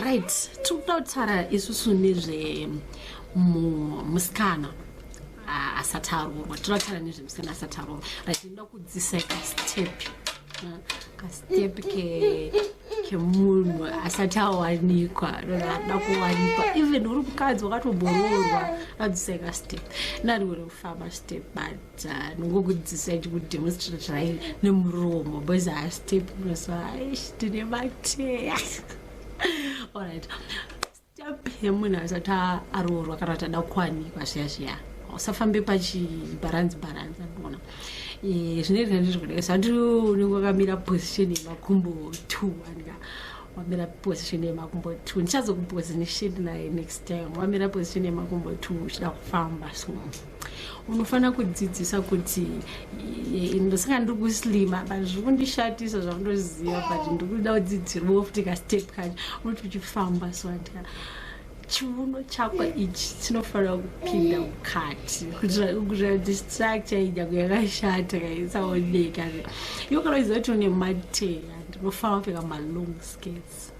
right tikuda kutaura isusu nezve musikana asati aroorwa tinoda kutaura nezve musikana asati aroorwa right inoda kudzisa kastep kastep ke kemunhu asati awanikwa ada kuwanikwa even uri mukadzi wakatoboroorwa adziseka step nariwere kufamba step bani ndongokudzisa chikudemonstrate zvai nemuromo boys astep kunosa aish tine mateya allright step yemunhu asati aroorwa kana kuti ada kuwanikwa zviya zviya usafambe pachibharanzi bharanzi andiona eh, zvinoita ndizvokudai zvati unenge wakamira position yemakumbo two andika wamira position yemakumbo two ndichazokuposition naye next time wamira position yemakumbo two uchida kufamba so unofanira kudzidzisa kuti ndosaka ndiri kuslima but zviri kundishatisa zvaundoziva but ndiri kuda kudzidzirwa futi kastep kacho unoti uchifamba soatika chiuno chako ichi chinofanira kupinda mukati kuitira kuti structure inyako yakashata kaisaoneka iyo kana uchiziva kuti une mateya ndinofanira kupfeka malong skates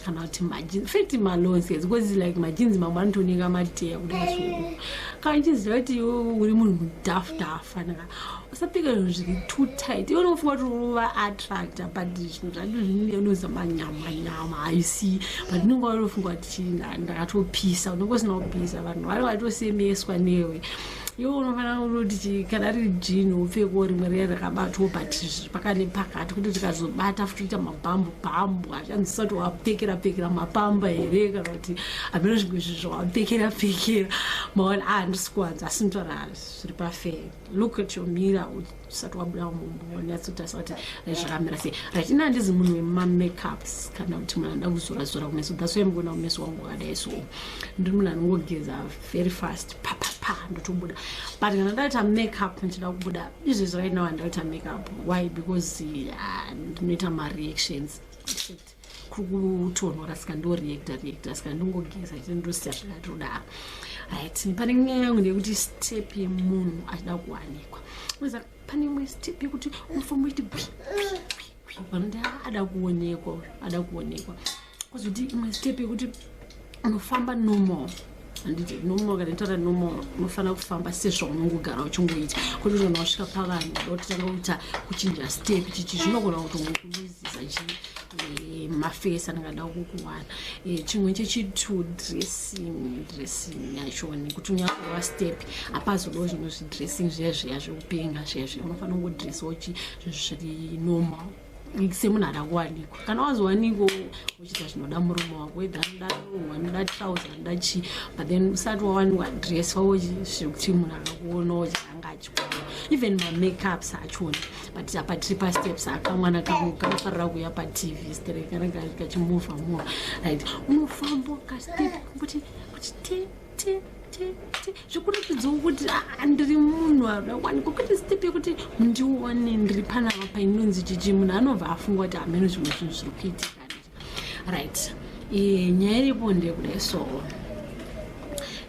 kana kuti majinzi feti malonse because like majinzi mamwe anotoneka mateya kudai kana uchiziva kuti iwe uri munhu mudafta afanira usapika zvinhu zviri too tight iwe unofunga kuti uva attracta but zvinhu zvacho zvinenge unoza manyama nyama haisi but unenge watofunga kuti ndakatopisa unenge usina kupisa vanhu vanenge vatosemeswa newe iwe unofanira unoti kana riri jini upfeko rimwe riya rakabatwa but pakane pakati kuti tikazobata futi ita mabhambu bhambu achanzisa kuti wapfekera pfekera mapamba here kana kuti ameno zvimwe zvi zvawapfekera pfekera maona a ah, handisi kuwanza asi mtwara zviri pafee look at your mira usati wabuda mumbonyatsotarisa kuti zvakamira sei rati ina handizi munhu wemamakeups kana kuti munhu anoda kuzora zora kumeso that's why mukuona kumeso wangu wakadai so ndiri munhu anongogeza very fast papapa ndotobuda but kana ndaita makeup ndichida kubuda izvezvi right now handiraita makeup why because ah, ndinoita mareactions etc kuri kutonhora saka ndoreacta reacta saka ndongogeza chete ndosiya zvakati rudaro rit pane nyaya yangu nekuti step yemunhu achida kuwanikwa oza pane imwe step yekuti unofanira iti gwi vanoti ada kuonekwa ada kuonekwa kozoti imwe step yekuti unofamba normal handiti normal kana itaura normal unofanira kufamba sezvo unongogara uchingoita kuti kana wasvika pavanhu dotanga kuita kuchinja step chichi zvinogona kuti unokuluziza chii eh, mafesi anangada kukuwana eh, chimwe chechitu dressing dressing yacho nekuti unyakurova step apazodo zvino zvidressing zviya zviya zvekupenga zviya zviya unofanira kungodressawo chi zviri normal semunhu ada kuwanikwa kana wazowanikwa uchiita zvinoda murume wako wedha anoda lungu anoda trouse anoda chii but then usati wawanikwa dress wavo zvekuti munhu akakuona uchitanga achikuona even mamakeups achona but apa tiri pasteps akamwana kangu kanofarira kuya patv stere kana kachimova mova right unofamba kastep kuti kuti te zvikuratidzawo kuti andiri munhu akawanikwa kuti step yekuti ndione ndiri pana apa inonzi chichi munhu anobva afunga kuti hameno zvimwe zvinhu zviri kuitika right e, nyaya iripo ndeyekudai so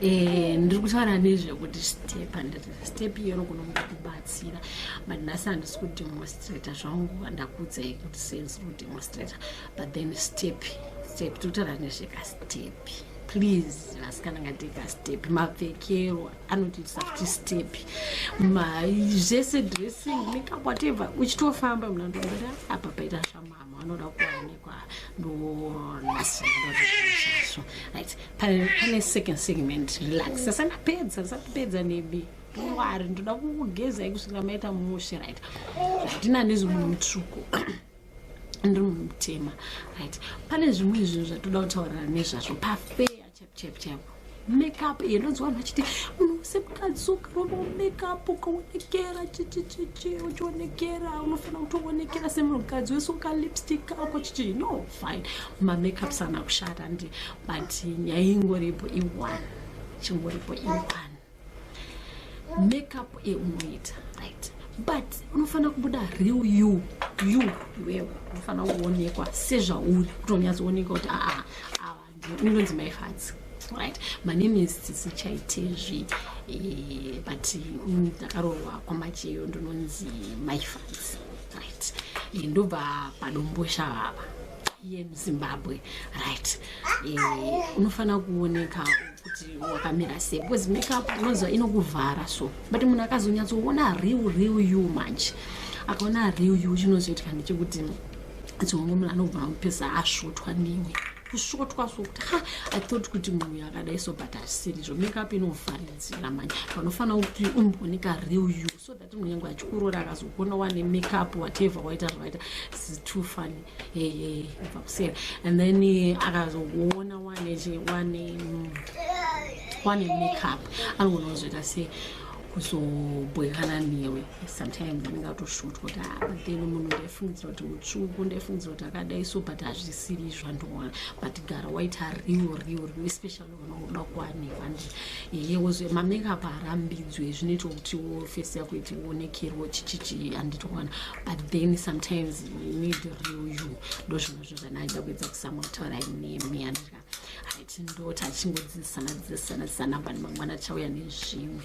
e, ndiri kutaura nezvekuti step andiri step iyero kunomuda kubatsira but nhasi handisi kudemonstrata zvangu handakuudzai kuti sendisi kudemonstrata but then step step tokutaura nezvekastep please vasikana ngateka step mapfekero anotiitisa kuti step zvese dressing makeup whatever uchitofamba mna ndombera apa paita zvamama vanoda kuwanikwa ndonasinaso right pane second segment relax asanapedza asatipedza nebi wari ndoda kukugezai kusvikira maita mushe right hatina nezimunhu mutsvuku ndiri munhu mutema right pane zvimwe zvinhu zvatoda kutaurira nezvazvo pafeya chaipo chaipo makeup iye ndonzi vanhu vachiti munhu wese mukadzi ukarova makeup ukaonekera chichichichi uchionekera unofanira kutoonekera semunhu mukadzi wese ukalipstick ako chichi no fine mamakeup sana kushata ndi but nyaya ingoripo ione chingoripo ione makeup eunoita right but unofanira kubuda real you you iwewe unofanira kuonekwa sezvauri kutonyatsooneka kuti aa ah, ah, awa ndinonzi maifadzi right my name is tsitsi chaitezvi eh, but mm, ndakaroorwa kwamacheyo ndinonzi maifadzi right eh, ndobva padombosha vava yemuzimbabwe right eh, unofanira kuoneka kuti wakamira sei because makeup unonzwa inokuvhara so but munhu akazonyatsoona real real you manje akaona real you chinozoitika ndechekuti dzimwe munhu anobva amupesa asvotwa newe kusvotwa sokuti ha i thought kuti munhu yakadai so but asiri zvo makeup inovharidzira manje panofanira kuti umbooneka real you so that munyange achikurora akazokuona wane makeup whatever waita zvavaita is too funny heyey ibva kuseri and then eh, akazokuona wane wane mm, wane makeup anogona kuzoita sei kuzobhoekana newe sometimes anenge atoshutwa kuti ah, but then munhu ndaifungidzira kuti mutsvuku ndaifungidzira kuti akadai so but hazvisiri izvo andoona but gara waita real real real especially unoda kuwanikwa nje iye wozve mamakeup harambidzwe zvinoita kuti wo face yako iti uonekerwo chichichi handiti kuwana but then sometimes you need real you ndo zvinhu zvo zvanaida kuedza kusamwa kutaura inemi yandika haiti ndoti achingodzidzisana dzidzisana dzisanambani mangwana chauya nezvimwe